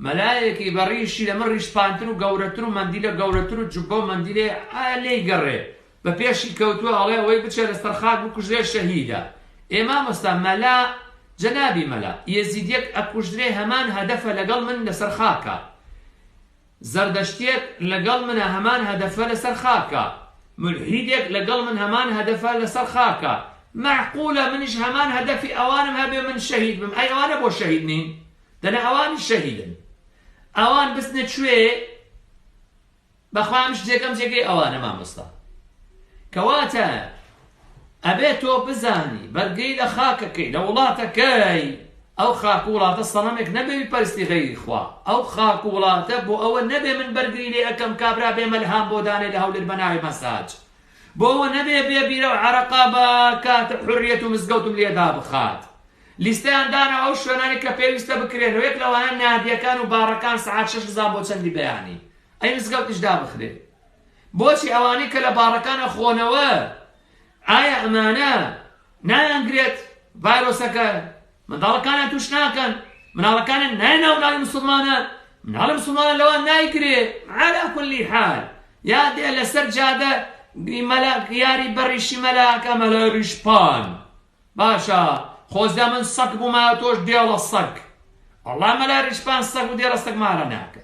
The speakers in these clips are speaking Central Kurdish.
مەلایەکی بە ڕیشی لە من ڕیشسپانتر و گەورەتر و مەندیلە گەورەتر و جوببە و مەندیلەی ئا لێی گەڕێ بە پێشی کەوتووە ئەڵێ ئەوەی بچێ لە سەر خاک بکوژرێ شەهیدە ئێ مامۆستا مەلا جەنابی مەلا یەزیدیەک ئەکوژرێ هەمان هەدەفە لەگەڵ من لە سەر خاکا زەردەشتیەک لە گەڵ منە هەمان هەدەفە لە سەر خاکا مولحیدێک لە گەڵ من هەمان هەدەفە لە سەر خاکا مەعقولە منیش هەمان هەدەفی ئەوانم هەبێ من شەهید بم ئەی ئەوانە بۆ شەهید نین؟ دەلێ ئەوانیش شەهیدن ئەوان بچنە کوێ بەخوام شتێکەم جێگەی ئەوانە مامۆستا کەواتە ئەبێ تۆ بزانی بەرگەی لە خاکەکەی لە وڵاتەکەی ئەو خاک و وڵاتە سەڵامێک نەبێ پەرستی غەیری خوا ئەو خاک و وڵاتە بۆ ئەوە نەبێ من بەرگری لێ ئەەکەم کابرا بێ مەلهام بۆ دانێ لە هەولر بەناوی مەساج بۆ ئەوە نەبێ بێ بیرە و عەرەقە بە کاتە حوریەت و مزگەوتم لێ دابخات. لیستەیان دانا ئەو شوێنانی کە پێویستە بکرێن و یەک لەوانە نادیەکان و باڕەکان سەعات شەش هەزار بۆ چەندی بەیانی ئەی مزگەوتیش دابخرێ بۆچی ئەوانەی کە لە باڕەکانە خۆنەوە ئایا ئەمانە نایانگرێت ڤایرۆسەکە منداڵەکانیان توش ناکەن مناڵەکانیان نایە ناو ناوی مسوڵمانان مناڵە مسوڵمانە لەوان نایگرێ علا کل حال یا دێ لەسەر جادە مەلا یاری بەڕیشی مەلاکە مەلای ڕیشپان باشە خۆزدا من سەک بوومە تۆش دێڵە سەک ئەڵا مەلا ڕیشپان سەک و دێڵە سەک مارە ناکە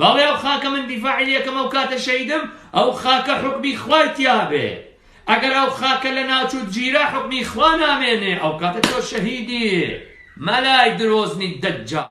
بەڵێ ئەو خاکە من دیفاعی لێکەم ئەو کاتە شەهیدم ئەو خاکە حوکمی خوای تیابێ ئەگەر ئەو خاکە لە ناوچوت گیرا حوکمی خوا نامێنێ ئەو کاتە تۆ شەهیدی مەلای درۆزنی دەجال.